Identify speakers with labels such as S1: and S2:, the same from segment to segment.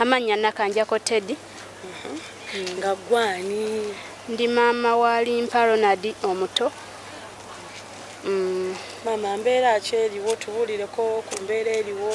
S1: Amannya Nakanjako Teddy.
S2: Nga gwani? Ndi maama
S1: wa Limpa Ronald omuto. Mm.
S2: Maama mbeera ki eriwo tubuulireko ku mbeera eriwo?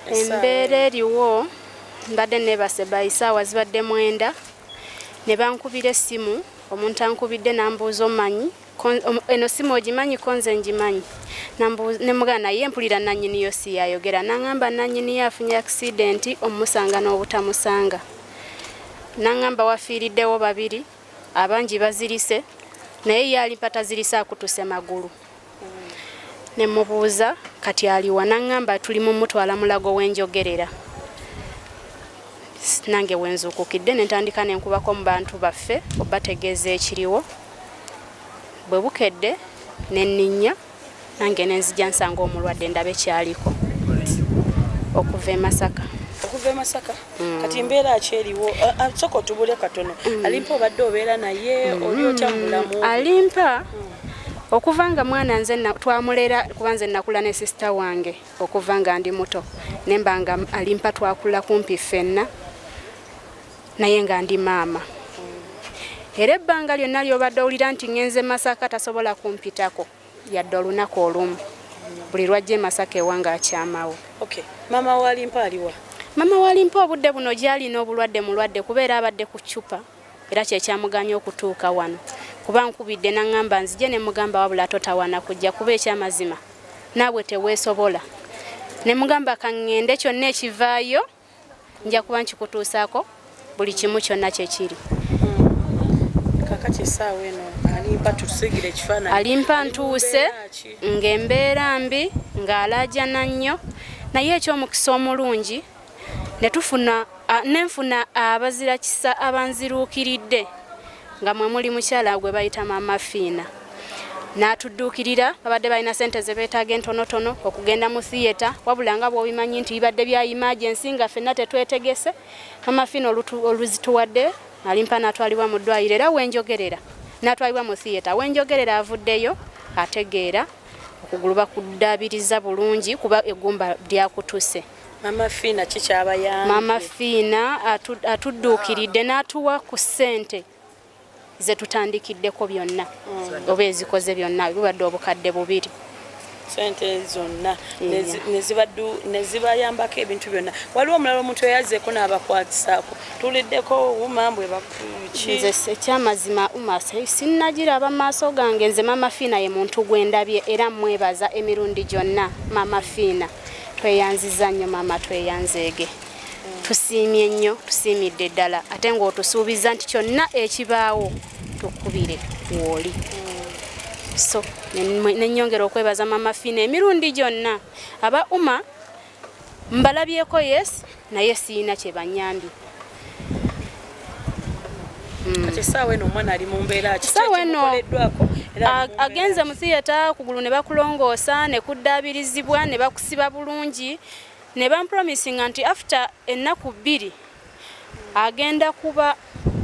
S1: Embeera eriwo mbadde neebase bayi saawa zibadde mwenda ne bankubira essimu omuntu ankubidde n'ambuuza omanyi eno simu ogimanyi ko nze ngimanyi ne mugana naye mpulira nanyini yo si yayogera nangamba nanyini yo afunye akisidenti omusanga n'obutamusanga nangamba wafiiriddewo babiri abangi bazirise naye yaali mpatazirise akutuse magulu ne mubuuza kati aliwa nangamba tuli mumutwala mulago wenjogerera nange wenzuukukidde nentandika nenkubako mu bantu baffe obategeeza ekiriwo bwe bukedde ne nninnya nange ne nzija nsanga omulwadde ndabe kyaliko okuva e masaka okuva e masaka
S2: mm. kati mbeera ki eriwo soka otubule katono mm. alimpa obadde obeera naye mm. oli otya mu bulamu alimpa
S1: okuva nga mwana nze twamulera kuba nze nakula ne sisita wange okuva nga ndi muto nemba nga alimpa twakula kumpi ffenna naye nga ndi maama era ebbanga lyonna lyobadde owulira nti ngenze masaka tasobola kumpitako yadde olunaku olumu buli lwajja emasaka ewanga akyamawo okay. mama
S2: walimpa aliwa mama walimpa
S1: obudde buno gyalina obulwadde mulwadde kubeera abadde ku cupa era kyekyamuganya okutuuka wano kuba nkubidde naŋŋamba nzije ne mugamba wabula totawana kujja kuba ekyamazima naabwe teweesobola ne mugamba kaŋŋende kyonna ekivaayo nja kuba nkikutuusaako buli kimu kyonna kyekiri kakati
S2: esaawa eno alimpa tusigire ekifaananyi alimpa ntuuse
S1: ng'embeera mbi ng'alaajana nnyo naye ekyomukisa omulungi ne tufuna nenfuna abazira kisa abanziruukiridde nga mwe muli mukyala gwe bayita maama fiina n'atudduukirira babadde balina sente ze beetaaga entonotono okugenda mu thiyeta wabula nga bwobimanyi nti bibadde bya imagensi nga fenna tetwetegese maama fiina oluzituwadde alimpa n'atwalibwa mu ddwaliro era wenjogerera n'atwalibwa mu thiyeta wenjogerera avuddeyo ategeera okugulu bakuddaabiriza bulungi kuba eggumba lyakutuse Mama Fina
S2: kikyabayambye. Mama Fina
S1: atudduukiridde n'atuwa ku ssente ze tutandikiddeko byonna mm. oba ezikoze byonna bibadde obukadde bubiri sente
S2: zonna nezibayambako ebintu byonna waliwo omulala omuntu eyazeeko n'abakwatisaako tuliddeko uma bwebakinze ekyamazima
S1: uma sinnagiraba maaso gange nze mama fiina ye muntu gwendabye era mwebaza emirundi gyonna mama fiina Tweyanziza nnyo maama tweyanzeege. Tusiimye nnyo, tusiimidde ddala ate ng'otusuubizza nti kyonna ekibaawo tukubire wooli. So nenyongera okwebaza maama Fina emirundi gyonna aba uma mbalabyeko yes naye siyina kyebanyambye hmm.
S2: kisaawa eno omwana ali mu mbeera kisaawa eno
S1: agenze mu thiyata kugulu ne bakulongoosa ne kuddaabirizibwa ne bakusiba bulungi ne bampromisinga nti after ennaku bbiri agenda kuba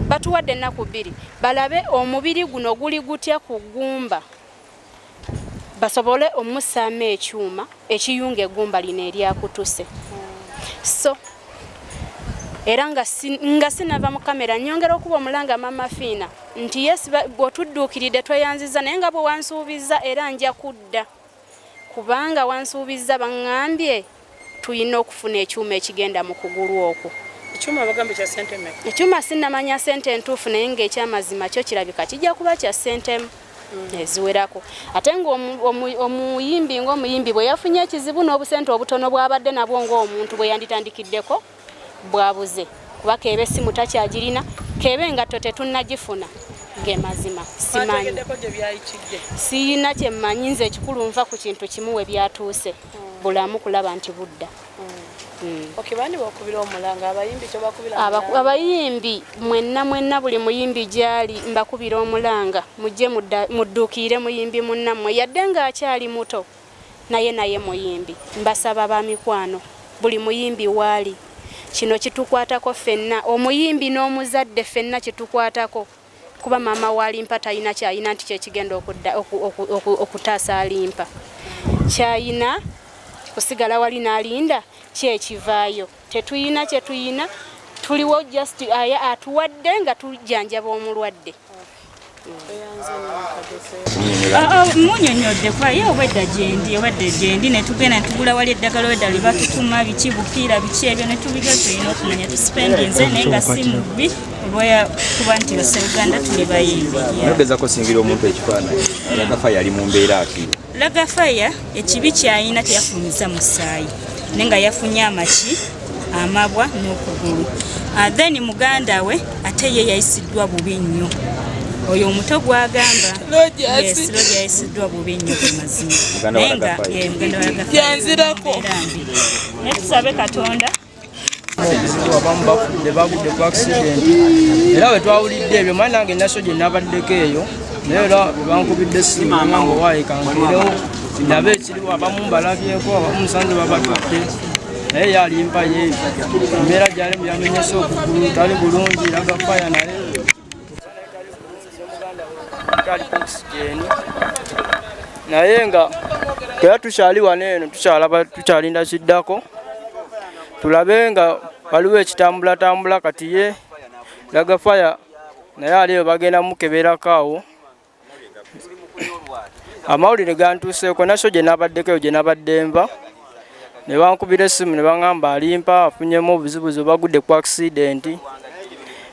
S1: batuwadde ennaku bbiri balabe omubiri guno guli gutya ku ggumba basobole omusaamu ekyuma ekiyunga eggumba lino eryakutuse so era nga sinava mu kamera nyongera okuba omulanga mama fiina nti yes bwotudduukiridde tweyanziza naye nga bwewansuubiza era nja kudda kubanga wansuubiza baŋambye Tulina okufuna ekyuma ekigenda mu kugulu okwo. Ekyuma bagamba kya
S2: sente mmeka? Ekyuma sinnamanya
S1: sente entuufu naye ng'ekyamazima kyo kirabika kijja kuba kya sente hmm. eziwerako ate ng'omuyimbi ng'omuyimbi bwe yafunye ekizibu n'obusente obutono bw'abadde nabwo ng'omuntu bwe yanditandikiddeko bwabuze kuba keebe simu takyagirina keebe engatto tetunnagifuna ge mazima simanyi siyina kyemmanyi nze ekikulu nva ku kintu kimu we byatuuse hmm. bulamu kulaba nti budda hmm. hmm. abayimbi mwenna mwenna buli muyimbi gyali mbakubira omulanga mujje mudduukiire muyimbi munnammwe yadde ng'akyali muto naye naye muyimbi mbasaba bamikwano buli muyimbi waali kino kitukwatako fenna omuyimbi n'omuzadde fenna kitukwatako kuba maama walimpa talina kyayina nti kyekigenda okutaasa alimpa kyayina kusigala wali nalinda kyekivaayo tetuyina kyetuyina tuliwo just aya atuwadde nga tujjanjaba omulwadde
S3: munyonyodde kwaye obwedda gyendi obadde gyendi netugenda netugula wali eddagala obwedda lye batutuma biki bupiira biki ebyo netubiryo tulina okumanya tusipendinze naye nga si mubi olwoya kuba nti baseuganda tuli bayimbi nogezako singira
S4: omuntu ekifaananyi agafa yali mu mbeera akiri lagafaya
S3: ekibi kyayina teyafumiza musaayi ne nga yafunye amaki amabwa n'okugulu ah, then muganda we ate ye yayisiddwa bubi nnyo oyo omuto gwagamba yayisiddwa bubi nnyo ku mazima naye nga muganda walagafaya naye tusabe katonda
S5: abamu bafudde bagudde ku akisidenti era bwe twawulidde ebyo mani nange naso gye nabaddeko eyo naye era bankubidde essimu nga owaayi kankirewo ndabe ekiriwo abamu mbalabyeko abamu musanze babatutte naye yalimpa ye embeera gyalimu yamenyese okugulu tali bulungi yagafaya naye naye nga era tukyali wano eno tukyalaba tukyalinda kiddako tulabe nga waliwo ekitambulatambula kati ye lagafaya naye aliyo bagenda mukeberako awo amawulire gantuuseeko naso gye nabaddeko eyo gye nabadde nva ne bankubira essimu ne baŋŋamba alimpa afunyemu obuzibuzi bagudde ku akisidenti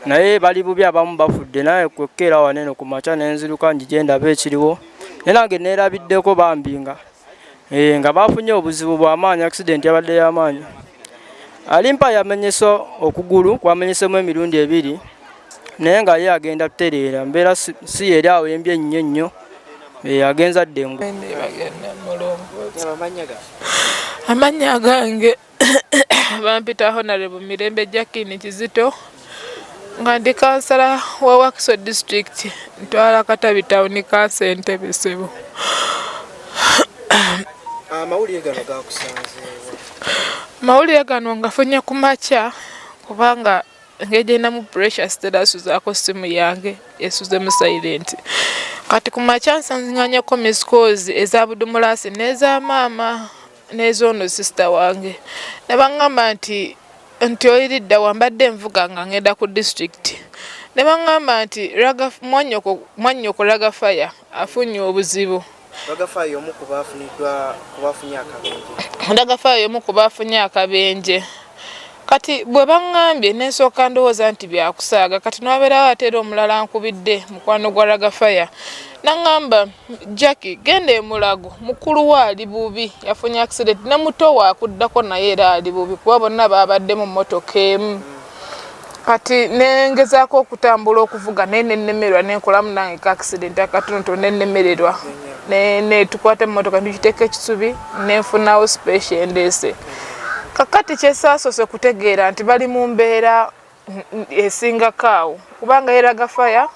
S5: naye bali bubi abamu bafudde naye kwekkeera wanene ku makya ne nziruka njije ndaba ekiriwo naye nange neerabiddeko bambi nga eh, nga bafunye obuzibu bw'amaanyi akisidenti yabadde y'amaanyi alimpa yamenyesa okugulu kwamenyesemu emirundi ebiri naye nga ye agenda tutereera mbeera si yeri awo embi ennyo ennyo eh, agenza dde ngu
S6: amannya gange bampita honarebo mirembe jakini kizito nga ndi kansala wa wakiso district ntwala katabi tawuni kansa entebe sebo
S7: amawulire gano gakusanze
S6: amawulire gano ngafunye ku makya kubanga engeri gyerinamu pressure sitera asuzaako simu yange esuze mu silent kati ku makya nsanzinganyako miscos eza budumulasi n'eza maama n'ezoono sisita wange ne baŋŋamba nti nti oyiridda wambadde envuga nga ngenda ku disitulikiti ne baŋŋamba nti mwannyoko laga faya afunye obuzibu Ndagafaayo y'omu
S7: ku baafuniddwa ku baafunye akabenje. Ndagafaayo y'omu ku
S6: baafunye akabenje. Kati bwe baŋŋambye ne nsooka ndowooza nti byakusaaga kati n'abeerawo ate era omulala nkubidde mukwano gwa Ragafaya naŋŋamba Jacki genda emulago mukulu we ali bubi yafunye accident ne muto waakuddako naye era ali bubi kuba bonna baabadde mu mmotoka emu. kati nengezaako okutambula okuvuga naye nenemerwa nenkolamu nange ka accident akatonoto nenemererwa netukwata emotoka nitugiteeka ekisubi nenfunawo special endeese kakati kyesasoose kutegeera nti bali mu mbeera esingako awo kubanga yeraga faya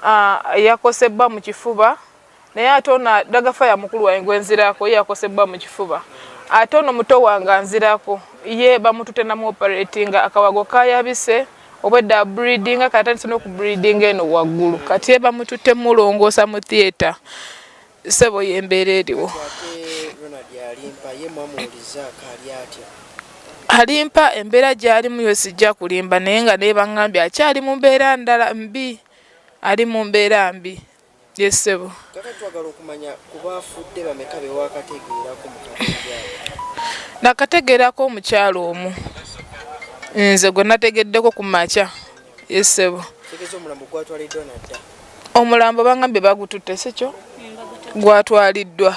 S6: ah, yakosebwa mu kifuba naye ate ono dagafa ya mukulu wange gwenzirako ye yakosebbwa mu kifuba ate ono muto wange anzirako ye bamutute namu operatinga akawago kayabise obwedda abreedinga kati atandise n'okubreedinga eno waggulu kati ye bamutute mulongoosa mu theatre sebo yembeera eriwo alimpa embeera gyalimu yo sijja kulimba naye nga naye baŋambye akyali mu mbeera ndala mbi ali mu mbeera mbi Yes sebo. Kaka twagala okumanya
S7: kuba afudde bameka be wakategeerako mu Nakategeerako
S6: omukyalo omu. Nze gwe nategeddeko ku makya. Yes sebo. Tegeza omulambo
S7: gwatwaliddwa na dda. Omulambo
S6: bangambye bagututte si kyo? Gwatwaliddwa.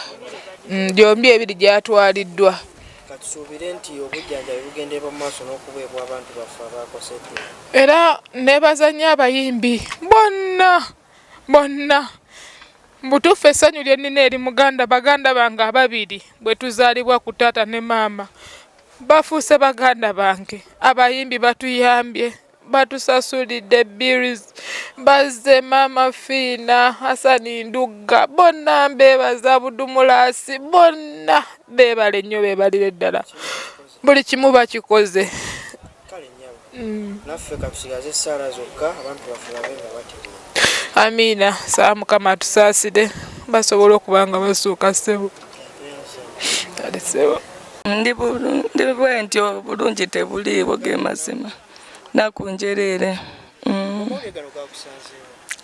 S6: Mm, gyombi ebiri gyatwaliddwa. katusuubire
S7: nti obujjanjabi bugenderwa mu maaso n'okuweebwa abantu baffe abaakoseddwa era
S6: nebazanya abayimbi bonna bonna mbutuufu essanyu lye nnina eri muganda baganda bange ababiri bwe tuzaalibwa ku taata ne maama bafuuse baganda bange abayimbi batuyambye batusasulidde bills bazze maama fiina hasani ndugga bonna mbeebaza budumulaasi bonna beebale nnyo beebalire ddala buli kimu bakikoze
S7: mm. naffe katusigaze esaala zokka abantu baffe babe nga bategeera amiina
S6: saa mukama atusaasire basobola okuba nga basuuka ssebo ali ssebo
S8: ndi bwentyo bulungi tebuliiwo ge mazima nakunjereere mm.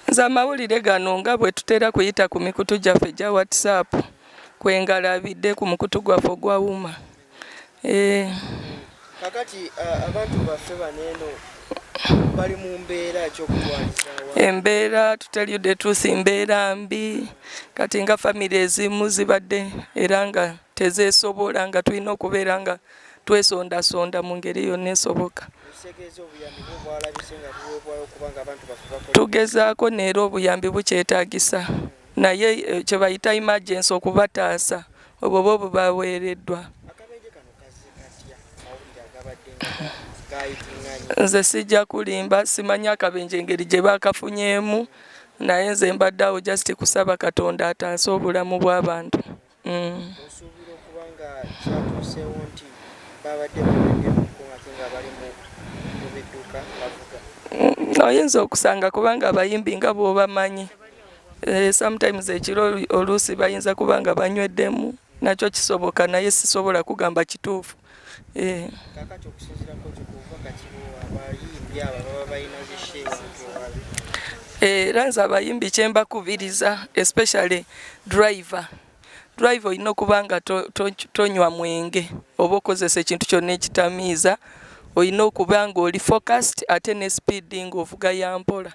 S8: nze amawulire gano nga bwe tutera kuyita ku mikutu gyaffe gya whatsapp kwe ngalabidde ku mukutu gwaffe ogwawuma Eh.
S7: kakati uh, abantu baffe baneeno bali mu mbeera kyokutwalizawa embeera
S8: tuteryude tuusi mbeera mbi kati nga famiry ezimu zibadde era nga tezesobola nga tulina okubeera nga twesondasonda mu ngeri yonna esoboka tugezaako neera obuyambi bukyetagisa naye eh, kyebayita imagensi okubataasa obwo bo bubaweereddwa nze sijja kulimba simanyi akabenje engeri gye baakafunyemu naye nze mbadde awo just kusaba katonda ataase obulamu bw'abantu mm. oyinza okusanga kubanga abayimbi nga bwobamanyi mm. Eh, sometimes ekiro oluusi bayinza kuba nga banyweddemu nakyo kisoboka naye sisobola kugamba kituufu eh. eh, era nze abayimbi kyembakubiriza especially driver drive olina okuba nga tonywa mwenge oba okozesa ekintu kyonna ekitamiiza olina okuba nga oli focast ate ne speeding ovuga yampola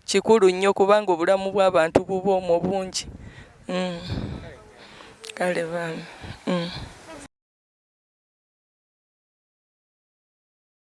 S8: kikulu nnyo kubanga obulamu bw'abantu bubwo omwo bungi mm. kale bambi mm.